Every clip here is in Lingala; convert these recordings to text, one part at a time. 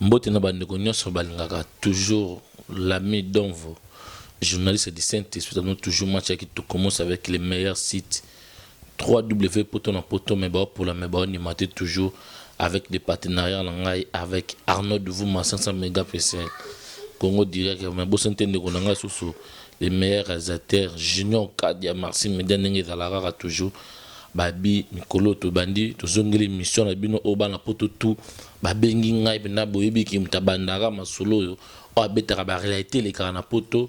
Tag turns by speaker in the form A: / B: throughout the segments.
A: mbote na bandeko nyonso balingaka toujours l'ami donvo journaliste du saint esprit anon toujours match ya kitoko mos avec les meilleurs sites 3W poto na poto mais bao pola mais bao ndima te toujours avec des partenariats na ngai avec Arnaud Duvuma 500 megapixels Congo direct mais bosani te ndeko na ngai susu le meilleur réalisateur Junior Kadia merci media ndenge ezala kaka toujours babi mikolo tobandi tozongeli mission na bino oyo bana poto tout babengi ngai mpenza boyebi ki moto abandaka masolo oyo oyo abetaka barealité elekaka na poto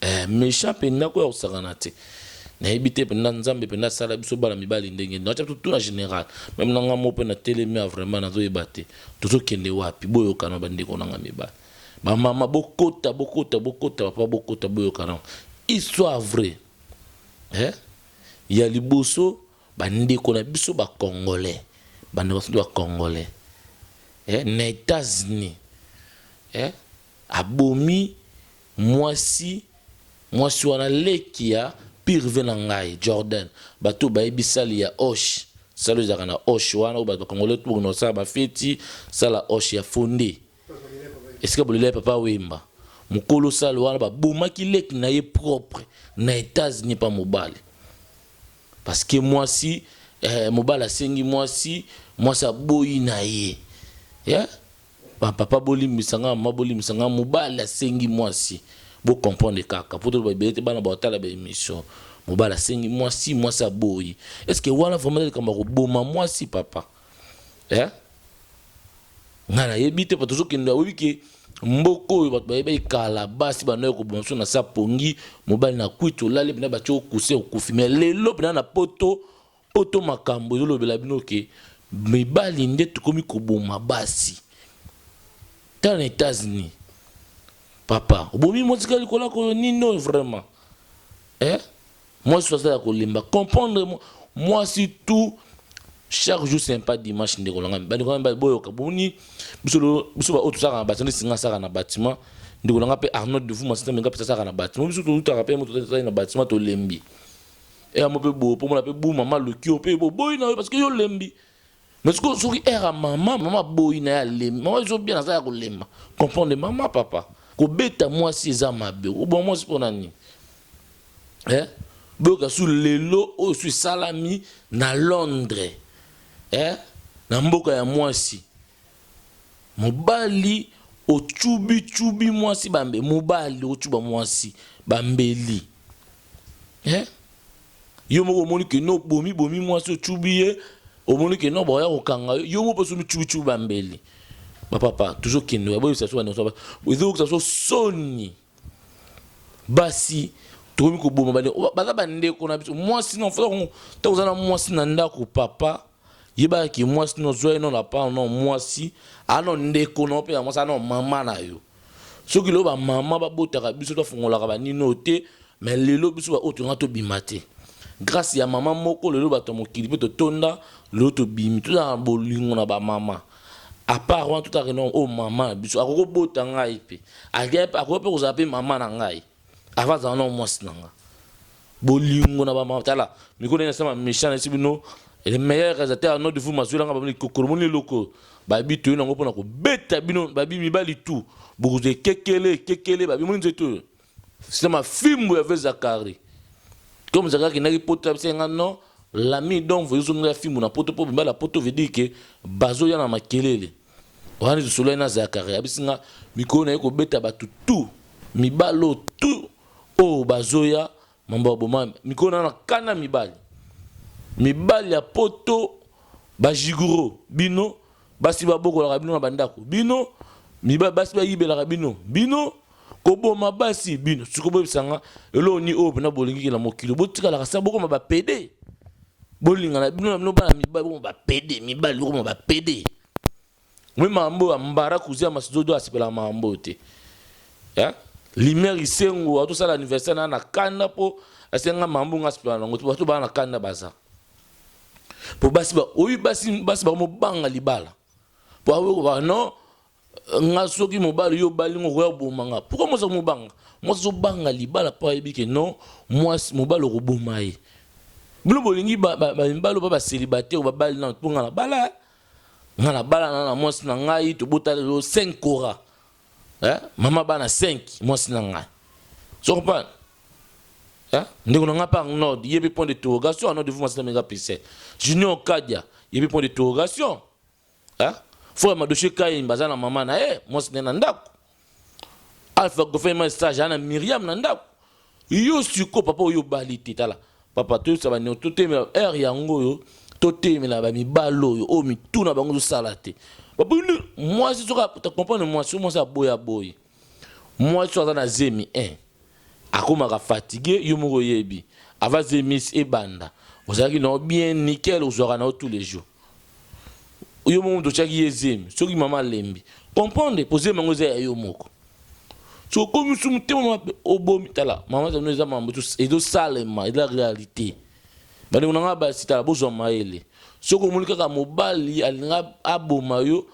A: Eh mechant penza ko ya kosakana te nayebi te penza nzambe penza asala biso bana mibali ndenge nini atia biso tout na general meme na nga moko mpe natelemi ya vraiment nazoyeba te tozokende wapi boyokana bandeko na nga mibali bamama bokota bokota bokota bapapa bokota boyokana histoire vrai eh? ya liboso bandeko na biso bacongolais bandeko na biso bacongolais eh? na états-unis eh? abomi Mwasi mwasi wana leki ya pyrve na ngai Jordan batu oyo bayebi salle ya hoche salle oyo ezalaka na hoche wana oyo batu ba congolais tout bakendaka kosala ba feti salle ya hoche ya fonde esika bolela ya papa wemba mukolo salle wana ba bomaki leki na ye propre na etats unis epa mobali parce que mwasi eh, mobali asengi mwasi mwasi aboyi na ye yeah? Ba papa bolimbisa nga mama bolimbisa nga mobali asengi muasi bo comprendre kaka po toloba ebele te bana bakotala ba emission mobali asengi muasi muasi aboyi est ce que wana vraiment eza likambo ya koboma muasi papa eh? nga nayebi te po tozokende oyebi ke mboka oyo bato bayebaki kala basi bandaki koboma biso na sa pongi mobali na kwiti olali mpena batye okuse okufi me lelo mpena na poto Poto makambu ezo lobela bino ke mibali nde tokomi koboma basi tala na etats unis papa obomi mwasi kaka likolo ya koyo nini oyo vraiment eh? mwasi oyo aza ya kolemba comprendre mwasi tout chaque jour c'est pas dimanche ndeko na ngai bandeko na ngai boyoka boni biso biso baoyo tozalaka na bâtiment singa asaka na bâtiment ndeko na ngai mpe arnold de vuma sita menga mpe asaka na bâtiment biso tolutaka mpe moto tozali na bâtiment tolembi era mo mpe boye mpo mona mpe bu mama aloki yo mpe boboyi na yo parce que yo olembi mais sikoyo soki era mama mama aboyi na ye alembi mama ezo bien aza ya kolemba comprendre mama papa kobeta mwasi eza mabe oboma mwasi mpo na nini eh? boyoka su lelo oyo su esalami na londres eh? na mboka ya mwasi mobali ocubicubi mwasi bambe mobali ocuba mwasi bambeli Hein? Yo moko omoni que no bomi bomi mwasi ochubi ye omoni que no baoya kokanga yo yo moko pe somi chubi chubi ba mbeli ba papa tozo kende oya boyebisa so ba nionso ba ezo yokisa so soni basi tokomi koboma bane baza bandeko na biso mwasi no fata kongo ta koza na mwasi na ndako papa yebaka ke mwasi no zwa ye no lapana no mwasi ano ndeko no pe ya mwasi ano mama na yo Soki lelo ba maman ba botaka biso to fungolaka ba nino oyo te mais lelo biso ba oyo tolinga to bima te grace ya maman moko lelo bato ya mokili pe to tonda lelo to bimi to zala bolingo na ba maman a part wana to taka ke non oyo maman na biso akoki ko bota ngai pe akoki pe kozala pe maman na ngai Avant azala na mwasi na nga. Bolingo na ba matala. Mikolo na sama méchant na sibino. Et le meilleur réalisateur à notre vous mazuela nga bamoni kokoro moni loko. Ba bi toyo nango pona ko beta bino ba bi mibali tout. Bokuze kekele kekele ba bi moni nzeto. C'est ma fimbo ya Vezakari. Comme Zakari qui n'a pas pote abisa nga non. L'ami donc vous zongela fimbo na poto po bimba la poto veut dire que bazo yana makelele. wana tosolani na zakari abisi nga mikolo naye kobeta bato tu mibali oyo tu oyo bazoya mambo ya boma mikolo na na kana mibali mibali ya poto bajiguro bino basi babokolaka bino na bandako bino mibali basi bayibelaka bino bino koboma basi bino siko boyebisanga eloko ni oyo mpena bolingiki na mokili botikalaka sa bokoma bapede bolingana bino na bino bana mibali bokoma bapede mibali bokoma bapede me makambo oyo ambara kuzi ya masidodo asepelaka makambo oyo te limer isengo atosala anniversaire na na kanda mpo asenga mambo nga asepela nango te bato baa na kanda baza mpo basi baoyi basi basi bakomobanga libala mpo akoki kobaka non nga soki mobali yo obali ngo okoya koboma nga pourquoi mwasi akomobanga mwasi azobanga libala mpo ayebi ke non mwasi mobali okoboma ye bino bolingi bamibali oba baselibate babali nano mpo nga nabala nga nabala na na mwasi na ngai tobota lelo 5 cora eh? mama bana 5 mwasi na ngai so comprendre eh? ndeko na ngai mpe arnold ye mpe point de interrogation arnold vu mwasi na menga pese junior kadia ye mpe point de interrogation Hein? Faut ya Madoche Kain baza na maman na eh mwasi na na ndako. Alpha Goffin ma stage ana Myriam na ndako. Yo siko papa oyo bali te tala. Papa to sa ba ne to te heure yango yo to te me la ba mi balo yo o mi tuna bango zo sala te. Papa mwasi soka ta comprendre mwasi mwasi aboya boye. Mwasi oyo aza na zemi eh akomaka fatigue yo moko oyebi avant zemi esi ebanda ozalaki na yo bien nickel ozwaka na yo tous les jours yo moko moto otyaki ye zemi soki mama alembi comprendre mpo zemi yango eza ya yo moko soki okomi mosusu motema mabe obomi tala mama zano eza mambo ezosalema eza réalité bandeko na ngai basi tala bozwa mayele soki omoni kaka mobali alinga aboma yo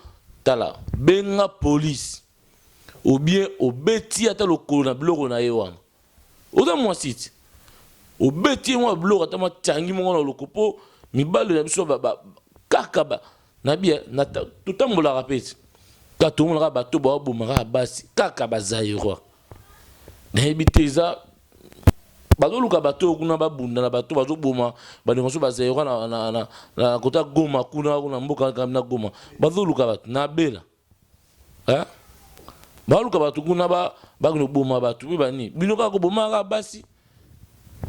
A: tala benga polise Obien obeti ye ata lokolo na biloko na ye wana. Oza mwasi ti. Obeti ye mwa biloko ata mwa cangi moko na loko po mibali na biso ba, ba, kaka ba, na bia, na, totambolaka pe ti. Kaka tomona kaka bato bao boma kaka basi, kaka ba Zairois. Nayebi te eza bazo luka bato oyo kuna ba bunda na bato bazo boma ba ndeko na biso ba Zairois na, na, na, na kota Goma kuna, kuna mboka na Goma. Bazo luka bato. Na bela. Hein? Baluka bato kuna ba bakino boma bato pe bani bino kaka koboma kaka basi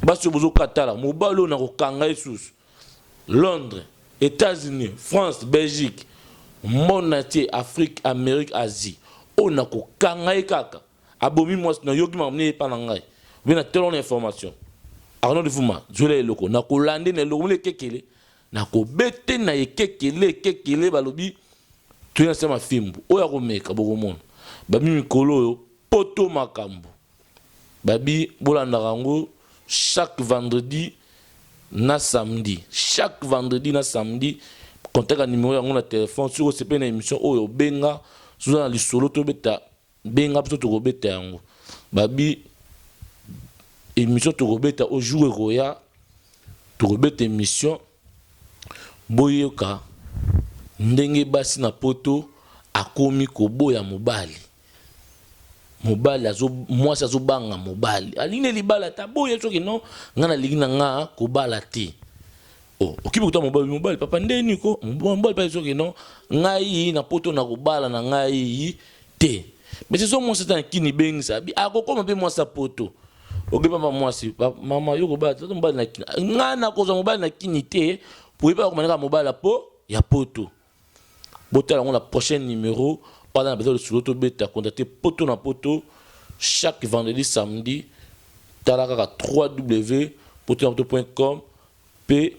A: basi oyo bozokatala mobali oyo nakokanga ye susu Londres Etats-Unis France Belgique monde entier Afrique Amerique Asie oyo nakokanga ye kaka abomi mwasi nayoki makambo nini epa na ngai obe na telo na information Arnaud Livuma zuela eloko nakolande na eloko mona ekekele Na ko bete na ekeke le ekeke le ba lobi to ya sama fimbu oyo ako meka boko mona ba bi mikolo oyo poto makambu ba bi bo landaka yango chaque vendredi na samedi chaque vendredi na samedi contaka numero yango na telephone soki o sepeli na emission oyo benga soki oza na lisolo to beta Benga biso toko beta yango. Ba bi emission toko beta o jour ekoya toko beta emission bo yoka ndenge basi na poto akomi ko boya mobali. Mobali azo mwasi azo banga mobali alingi nde libala te aboyi soki non nga na lingi na nga ko bala te. Oh, okibi kuta mobali mobali papa nde nini ko mobali papa ezoke non ngai na poto na kobala na ngai te mais ezo mwasi ata na kini bengisa abi akokoma mpe mwasi ya poto oke papa mwasi mama yo kobala tata mobali na kini ngai nakozwa mobali na kini te po yebaka komanaka mobali ya po ya poto Botala yango na prochaine numero. Oyo aza na besoin ya lisolo tobeta, contacter poto na poto chaque vendredi, samedi. Tala kaka www.potonapoto.com pe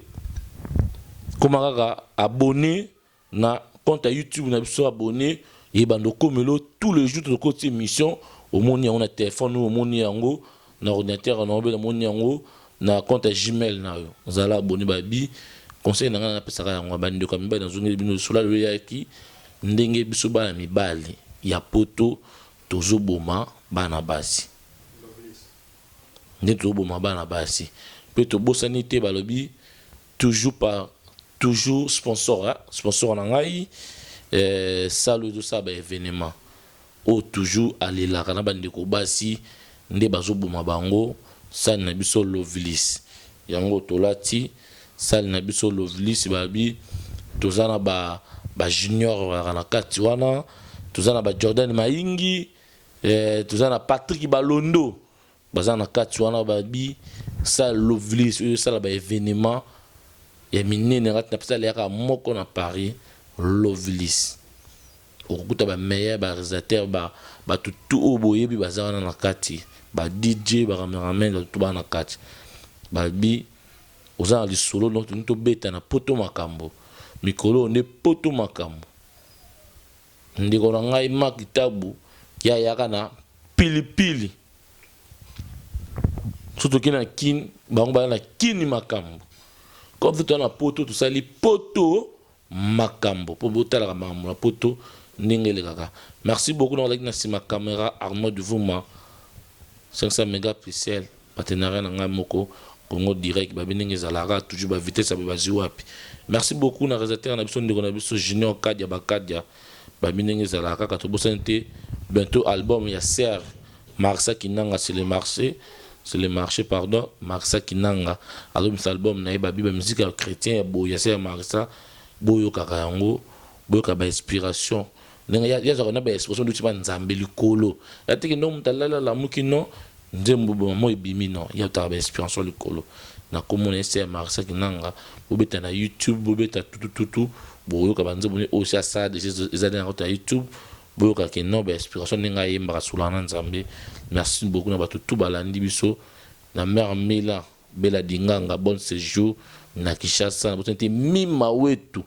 A: koma kaka abonner na compte ya YouTube na biso. Abonner ebanda okomelo tous les jours tokotia emission omoni yango na telephone oyo omoni yango na ordinateur na yo bela moni yango na compte ya gmail na yo zala abonne ba bi conseil na ngai napesaka yango ba ndeko ya mibali nazongeli bino lisolo lelo eyaki ndenge biso bana mibali ya poto tozoboma bana basi nde tozoboma bana basi mpe tobosani te balobi toujours par toujours sponsor hein? sponsor na ngai eh, salo ezosala ba evenement oyo toujours alelaka na ba ndeko basi nde bazo boma bango salle na biso lovilis yango tolati salle na biso lovilis babi toza na ba ba junior bazalaka na kati wana toza na ba jordan maingi eh toza na patrick balondo Baza na kati wana ba bi sa lovely soki ezo sala ba evenement ya minene na kati na salle yaka moko na paris lovely's okokuta ba meilleur ba realisateur ba batu tout oyo boyebi baza wana na kati ba DJ ba cameraman batu tout baza na kati ba bi oza na lisolo donc tolingi tobeta na poto makambu mikolo oyo nde poto makambu. Ndeko na ngai Marc Tabu ye ayaka na pili pili soki toke na kin bango baya na kini makambo comme soki toza na poto tosali poto makambo mpo botalaka makambo na poto ndenge elekaka merci beaucoup na ozalaki na nsima camera arnaud duvuma 500 megapixel partenariat na ngai moko Congo direct babi ndenge ezalaka toujours ba vitesse ya boye bazui wapi merci beaucoup na realisateur na biso ndeko na biso junior kadia ba kadia babi ndenge ezalaka kaka tobosani te bientot album ya sir marsa kinanga c'est le marche c'est le marche pardon marsa kinanga azobimisa album na ye babi ba musique ya chretien ya boye ya sir marsa boyokaka yango boyoka ba inspiration ndenge ya yazaka na ba expression duti ba nzambe likolo ya tiki no mutalala la muki no nzembo boma mo ebimi no ya taka ba inspiration likolo na komo na ese ya Marissa Kinanga bobeta na YouTube bobeta tutu tutu boyoka ba nzembo ni osi asala deja ezali na kota YouTube boyoka ke no ba inspiration ndenge ayembaka sulana nzambe merci beaucoup na bato tout balandi biso na mère Mila Bella dinganga bonne sejour na kishasa nabosani te mima wetu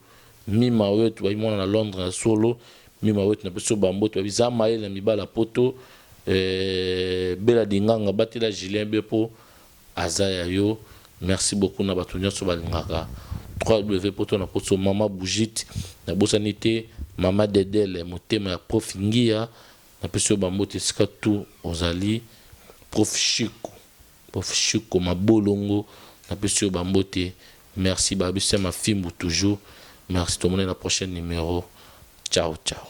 A: mima wetu babi mwana na londre ya solo mima wetu napesi yo ba mbote babi za mayele na mibali ya poto euh bella dinganga batela julien be po aza ya yo merci beaucoup na batu nionso balingaka wppoto na poso maman bougite nabosani te maman dedele motema ya prof ngiya napesi yo ba mbote esika tout ozali prof chic. Prof Shiko mabolongo na pesi yo ba mbote merci ba bese ma fimbu toujours merci to monana prochaine numero ciao ciao.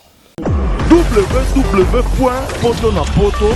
B: www.potonapoto